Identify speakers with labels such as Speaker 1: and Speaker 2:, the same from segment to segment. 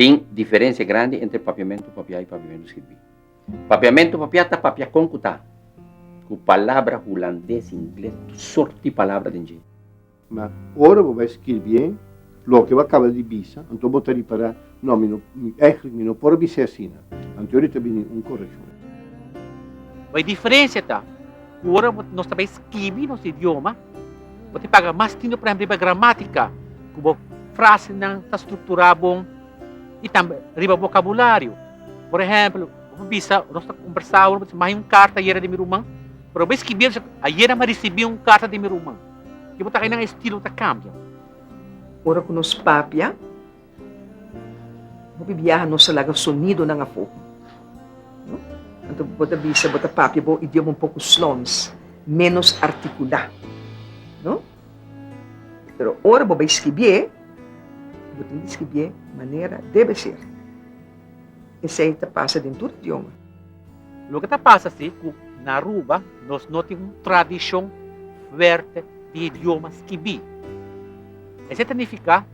Speaker 1: Tin diferensia grandi entre papiamentu papiá i papiamentu skirbí. Papiamentu papiá ta papia kon ku ta ku palabra hulandes, ingles, tur sort di palabra den dje. Ma ora bo bai skirbié. Loke bo caba di bisa, anto bo ta ripará, No, mi no, mi, eigenlijk mi no por a bis'é asina. Anto eri ta bini un correccion. Bo e diferencia ta, cu ora bo, nos ta bai skibi nos idioma, bo tin paga mas tintu prehempel riba gramatica, cu bo frasenan ta structurá bon, y tambe riba vocabulario. Por ehempel, bo por bisa, nos ta combersa awe, bo ta bisa, Mahe un carta ayera di mi ruman, pero bo bai skibi el, bo ta bisa, Ayera mi a ricibi un carta di mi ruman. Tin bo ta ha'i nan estilo ta cambia. Ora ku nos papia, hopi biaha nos ta laga sonidonan afó. Anto bo ta bisa bo ta papia bo idioma un poku slons, ménos artikulá. No? Pero ora bo bai skibié, bo tin di skibié manera debe ser. Esei ta pasa den tur idioma. Loke ta pasa si ku na Aruba nos no tin un tradishon fuerte di idioma skibí? Esei ta nifiká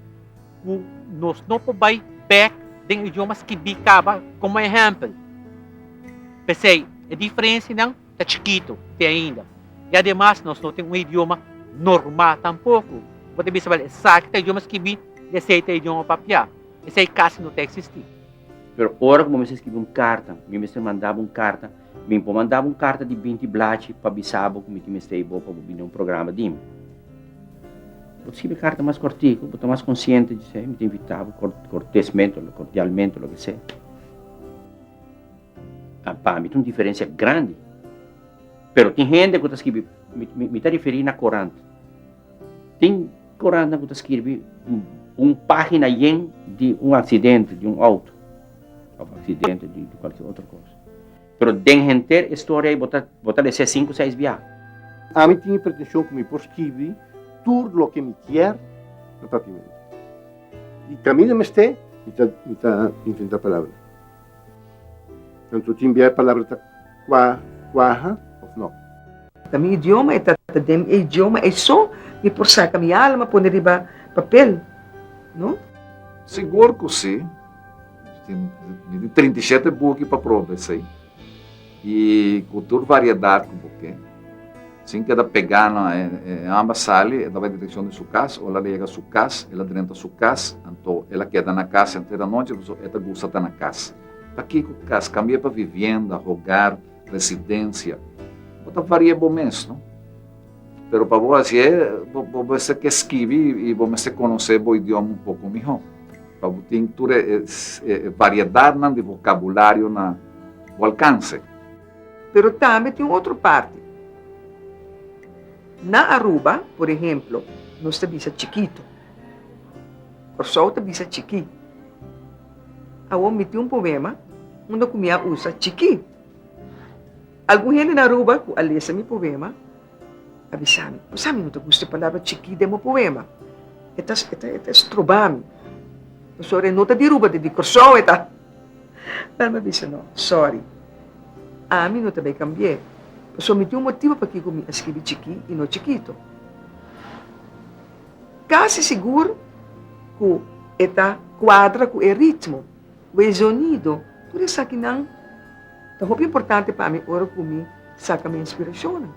Speaker 1: ku nos no por bai bèk den idioma skibí kaba. Komo ehèmpel, p'esei e diferensianan ta chikitu te ainda. I ademas nos no tin un idioma normal tampoku ku bo ta bisa, Bel, esaki ta idioma skibí i esei ta idioma papiá. Esei casi no ta existi. Pero ora cu bo mester scribi un carta, mi mester mandabo un carta, mi por mandabo un carta di binti blachi pa bisabo cu mi tin mestei bo pa bo bini na un programa di mi. Bo ta scribi carta mas cortico, bo ta mas consciente di esei, mi ta invitabo cortesmente o cordialmente o loke sea. A pa mi ta un diferencia grandi. Pero tin hende cu ta scribi, mi ta referi na corant. Tin kurantnan ku ta skirbi un página yen di un aksidente di un outo òf aksidente di kualkier otro kos. Pero den henter e storia ei bo ta bo ta lese sinku seis biaha. Ami tin e pretenshon ku mi por skirbi tur loke mi kier na papiamento. I kaminda mester mi ta mi ta inventá palabra. Anto tin bia e palabra ta kua, kuaha of no? Na mi idioma e ta ta den e idioma ei so mi por saka mi alma pone riba papel, no? Sigur ku si. Mi tin trinta i shete buki pa proba esei. I ku tur variedat ku bo ke. Sin keda pegá na e amba sali, e daba e direkshon di su kas. Ora el a yega su kas, el a drenta su kas. Anto el a keda na kas henter anochi pasobra e ta gusta ta na kas. Pakiko kas? Kambi'é pa vivienda, hogar, residensia. Bo ta vari'é bo mes, no? Pero pa bo hasié, bo, bo mester ke skibi i bo mester konosé bo idioma un poko mihó, pa bo tin tur e, e, e variedatnan di vokabulario na bo alkanse. Pero tambe tin un otro parti. Na Aruba, por ehemplo, nos ta bisa chikitu. Kòrsou ta bisa chikí. Awor mi tin un poema unda ku mi a usa chikí. Algun hende na Aruba ku a lesa mi poema a bisa mi, Kusa mi no ta gusta e palabra chikí den bo poema? E ta e ta e ta estroba mi. Pasobra e no ta di Aruba, ta di Kòrsou e ta. Pero mi a bisa, No, sòri, ami no ta bai kambi'é, pasobra mi tin un motibu pakiko mi a skibi chikí i no chikitu. Kasi sigur ku e ta kuadra ku e ritmo. Bo e zonido, tur esakinan ta hopi importante pa mi ora ku mi saka mi inspirashonnan.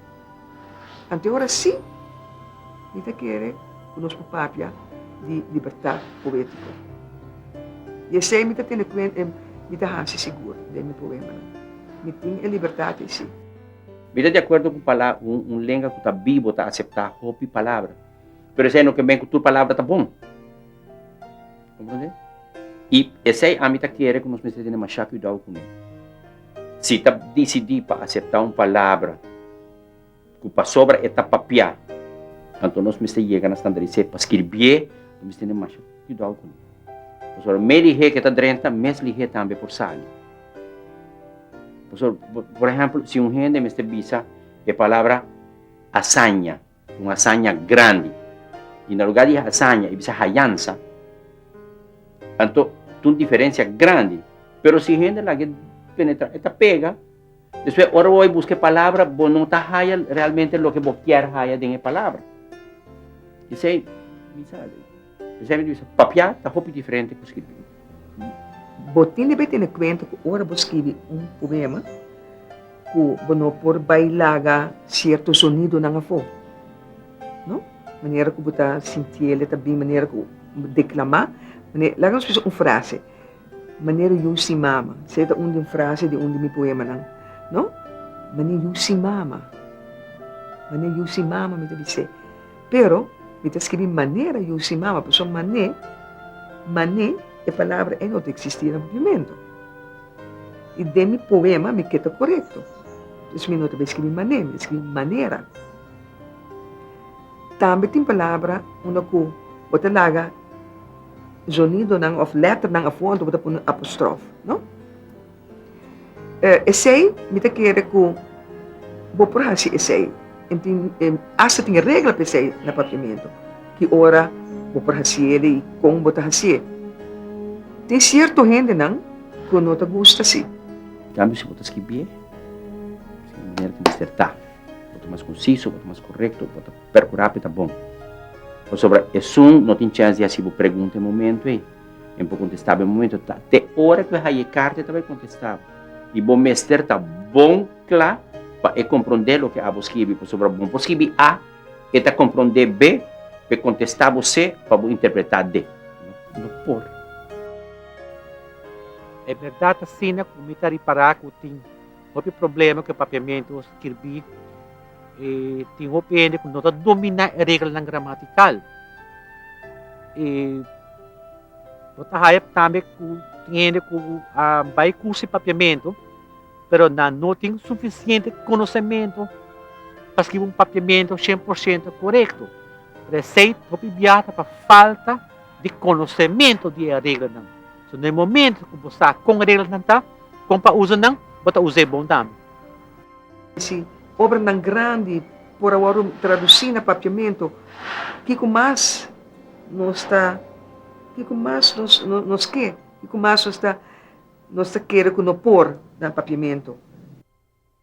Speaker 1: Anto e ora sí, mi ta kere ku nos por papia di libertat poétiko. I esei mi ta tene kuenta, i mi ta hasi sigur den mi poemanan. Mi tin e libertat esei. Mi ta di akuerdo ku pala, un lenga ku ta bibo ta aseptá hopi palabra. Pero esei no ken ben ku tur palabra ta bon. Comprende? I esei ami ta kere ku nos mester tene mashá kuidou ku nan. Si ta disidí pa aseptá un palabra ku pasobra e ta papiá, anto nos mester yega na standaris'é pa skirbié, nos mester tene mashá kuidou ku nan. Pasobra mes lihé ku e ta drenta, mes lihé tambe e por sali. Pasobra, por ehèmpel, si un hende mester bisa e palabra asaña. Un hasaña grandi. I na lugá di hasaña i bisa hayansa, anto ta un diferensia grandi. Pero si hende laga e penetrá, e ta pega. Despues, ora bo bai buska e palabra, bo no ta haya realmente loke bo kier haya den e palabra. P'esei, bisa. Esaki di bisa, Papiá ta hopi diferente ku skirbí. Bo tin debé tene kuenta ku ora bo skibi un poema ku bo no por bai laga sierto sonidonan afó. No? Manera ku bo ta sinti el, e ta bin manera ku bo deklamá. Laga nos kusa un frase, Manera yu sin mama. Esei ta un di un frase di un di mi poemanan. No? Manera yu sin mama. Manera yu sin mama, mi ta bis'é. Pero, mi ta skibi manera yu si mama, pasobra mané, mané, e palabra ei no ta eksistí na Papiamento. I den mi poema mi ke ta korekto. Entonces mi no ta bai skibi mané, mi ta skibi manera. Tambe tin palabra unda ku bo ta laga zonidonan òf lèternan afó, anto bo ta pone un apostrof, no? Eh, esei mi ta kere ku bo por hasi esei. E tin, e asta tin e regla pa esei na Papiamentu, ki ora bo por hasi el i kon bo ta hasi e. Tin sierto hendenan ku no ta gusta asi. Di kambio, si bo ta skibié di manera ku mester ta, bo ta mas konsiso, bo ta mas korekto, bo ta perkurá pa e ta bon. Pasobra esun no tin chèns di hasi bo pregunta e momentu ei. Em por contestá bo e momento ta te ora cu e haye carta e ta bay contestá bo. Y bo mester ta bon cla pa e comprondé loke abo scribi, pasobra bo por scribi A, e ta comprondé B pa e contestá bo C pa bo interpretá D. No por. E berdad asina cu mi ta ripará cu tin Hopi problema ku e Papiamentu a skirbí e tin hopi hende ku no ta dominá e reglanan gramatikal. E bo ta haya tambe ku tin hende ku a bai kurso di Papiamentu pero nan no tin sufisiente konosementu pa skibi un Papiamentu shen por shento korekto. Por esei hopi biaha ta pa falta di konosementu di e reglanan. So na e momento ku bo sa kon e reglanan ta, kon pa usa nan, bo ta us'é bon tambe. Si obranan grandi por a wòrdu tradusí na papiamentu, kiko mas nos ta kiko mas nos nos ke? Kiko mas nos ta nos ta kere ku no por na papiamentu?